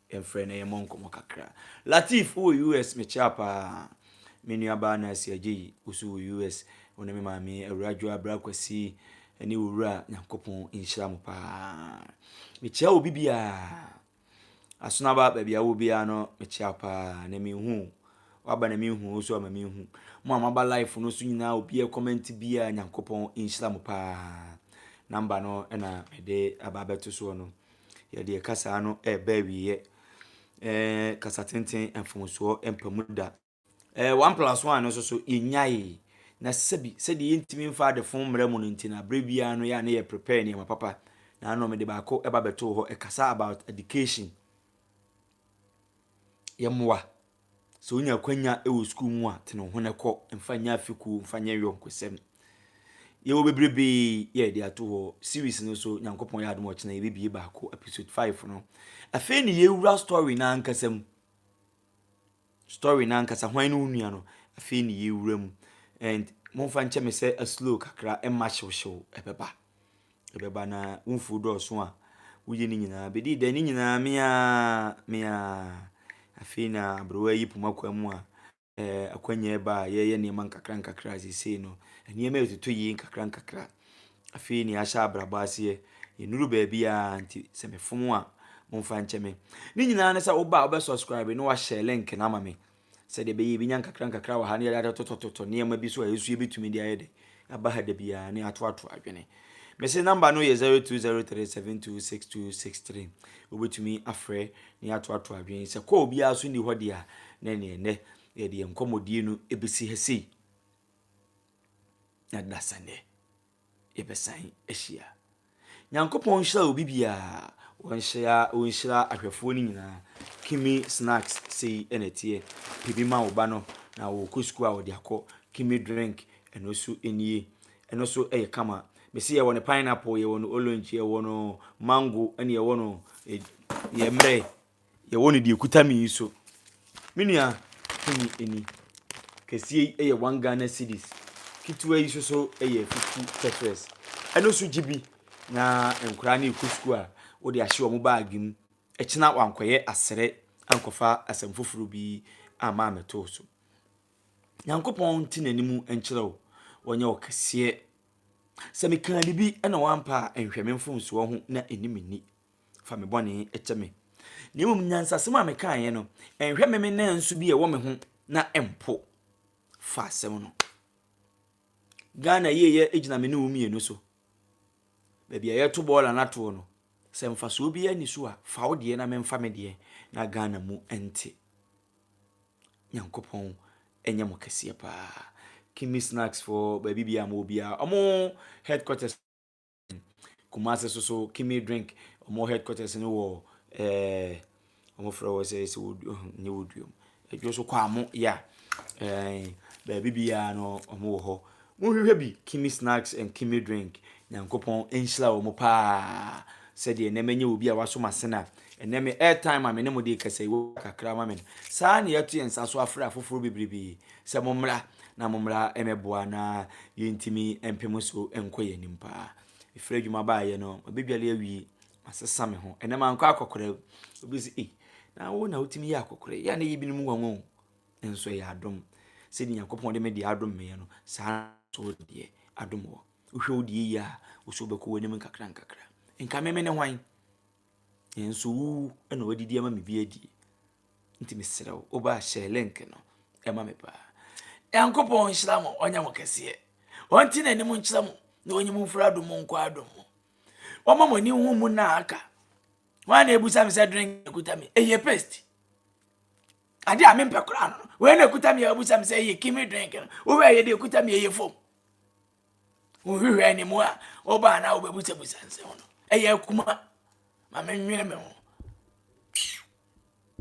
Speaker 1: Yɛmfrɛ na yɛmmɔ nkɔmmɔ kakra. Lateef, Wowɔ US? Mekyea paa. Me nuabaa Nancy Agyei, wo nso wɔ US. Wo ne me maame, Awuraa Joe Abra Kwasi, ne wo wura, Nyankopɔn nhyira mo paa. Mekyea obi biara. Asonaba, baabi a wowɔ biara no, mekyea wo paa. Na menhu wo. Waba na menhu wo so ama menhu. Mo a moaba live no so nyinaa, obi a comment biara, Nyankopɔn nhyira mo paa. Number no na mede aba abɛto soɔ no. Yɛde yɛn kasaa no reba awieɛ. Ɛɛ kasa tenten mfomsoɔ mpa mu da. Ɛɛ one plus one no nso so yɛnyae na sɛbi sɛdeɛ yɛntumi mfa adefo mmerɛ mu no nti na berɛ biara no yɛ a ne yɛ prepare nneɛma papa na ano mede baako ɛba bɛtoo hɔ ɛkasa about education yɛmmoa Sɛ wonya akwanya wɔ sukuu mu a, tene wo ho na kɔ. Mfa nyɛ afe kuo, mfa nyɛ yɔnkosɛm. Yɛwɔ bebrebee yɛ yɛde ato hɔ. Series no so, Nyankopɔn yɛ adom ɔkyena yɛbɛbie baako, episode 5 no. Afei ne yɛwura story no ankasa mu. Story no ankasa, hwan ne wo nua no? Afei ne yɛwura mu. And momfa nkyɛ me sɛ slow kakra, ɛmma hyewhyew ɛbɛba. Ɛbɛba na wo mfuw dɔɔso a woyɛ no nyinaa bedi dɛ, ne nyinaa me ara, me ara. Afei na aberewa yi poma kwan mu a eh, akwannya ɛba a yɛyɛ nneɛma nkakrankakra seesei no, nneɛma ɛtoto yie nkakrankakra. Afei na yɛahyɛ abrabɔ aseɛ, yɛnnuru baabi a nti sɛ mefom a momfa nkyɛ me. Ne nyinaa ne sɛ woba a wobɛsubscribe na woahyɛ link no ama me. sɛdeɛ ɛbɛyɛ yɛbɛnya nkakrankakra wɔ ha na yɛde atotɔtotɔ nneɛma bi so a ɛso yɛbɛtumi de ayɛ dɛ aba ha da biara ne atoato adwene mese namba no yɛ 0203726263 wobɛtumi afrɛ ne atoato adwene sɛ kɔɔ biara so nni hɔ deɛ a na ɛneɛ nnɛ yɛde yɛn nkɔmmɔdie no ɛbɛsi ha sei na dasɛnɛ yɛbɛsan ahyia. Nyankopɔn nhyira obi biara. Ɔnhyira ɔnhyira ahwɛfoɔ no nyinaa. Kimi snacks sei ɛna ɛteɛ. Pɛ bi ma wo ba no na wɔkɔ sukuu a ɔde akɔ. Kimi drink ɛno nso nie. Ɛno nso ɛyɛ kama. Mesi yɛwɔ no pineapple, yɛwɔ no orange, yɛwɔ no mango, ɛne yɛwɔ no yɛ mmerɛ. Yɛwɔ no deɛ ɛkuta me yi so. Me nua hu me ani. Kɛseɛ yi yɛ one Ghana cedis. Ketewa yi nso so yɛ fifty cetires. Ɛno nso gye bi na nkwadaa no rekɔ sukuu a wode ahyɛ wɔn baage mu. Ɛkyena wankɔyɛ asrɛ ankɔfa asɛm foforɔ bi amma ammɛto wo so. Nyankopɔn nte n'anim nkyerɛ wo. Ɔnyɛ wo kɛseɛ. Sɛ mekaa biribi na woampa a, nhwɛ me mfomsoɔ ho na ɛnni me ni. fa me bɔne kyɛ me. Na mmom nyansasɛm a mekaeɛ no, nhwɛ me me nanso bi a ɛwɔ me ho na mpo fa asɛm no. Ghana yieyɛ gyina me ne wo mmienu so. Baabi a yɛto bɔɔla no atoɔ no, sɛ mfasoɔ bi ani so a, fa wo deɛ na memfa me deɛ na Ghana mu nte. Nyankopɔn ɛnyɛ mo kɛseɛ paa. Kimi snacks for baabi biara mo biara. Ɔmo headquarters Kumasi so so Kimi Drink wɔn headquarters no wɔ ɛɛ wɔn frɛ wɔ sɛ sɛ wɔdu nyɛ wɔdua mu adwo so kwaamo ya ɛɛ baabi biara no wɔn wɔ hɔ monhwehwɛ bi Kimi Snacks and Kimi Drink nyankopɔn nhyira wɔn paa sɛdeɛ nneɛma nyɛ obi a wasom asen a ɛnɛ me airtime a me ne mo de kasa yi wɔ kakra ma me no saa na yɛato yɛn nsa so afrɛ afoforɔ bebrebe Sɛ mommra na mommra mmɛboa na yɛntumi mpe mo so nkɔ yɛn anim paa. Mefiri adwuma baeɛ no, mabɛdwale awie, masesa me ho. Ɛnɛ mankɔ akɔkorɛ. Obi sɛ, ei, na wo na wotumi yɛ akɔkorɛ. Yɛ a na ɛyɛ binom nwanwa o. Nanso ɛyɛ adom. Sɛdeɛ Nyankopɔn de me deɛ adom meɛ no, saa nso wo deɛ adom wɔ. Wohwɛ wo deɛ yie a, wo so wobɛkɔ w'anim nkakrankakra. Nka me mene hwan? Nanso wo na wadidi ama me bi adi. Nti mesrɛ wo, wo ba hyɛ link no ɛma me paa. Nyankopɔn nhyira mo, ɔnyɛ mo kɛseɛ. Ɔnte n'anim nkyerɛ mo na ɔnyi mo mfiri adom mu nkɔ adom mu. Wɔma mo ani ho mu na aka. Wɔn a na ebusa me sɛ drink na ekuta me, ɛyɛ paste. Ade a mempɛ koraa no, wɔn na ekuta me a ebusa me sɛ ɛyɛ kimi drink no, wɔn a ɛyɛ de ekuta me ɛyɛ fam. Wohwehwɛɛ ne mu a, ɔbaa na ɔbɛbusabusa nsɛm no. Ɛyɛ akuma ma menwene me ho.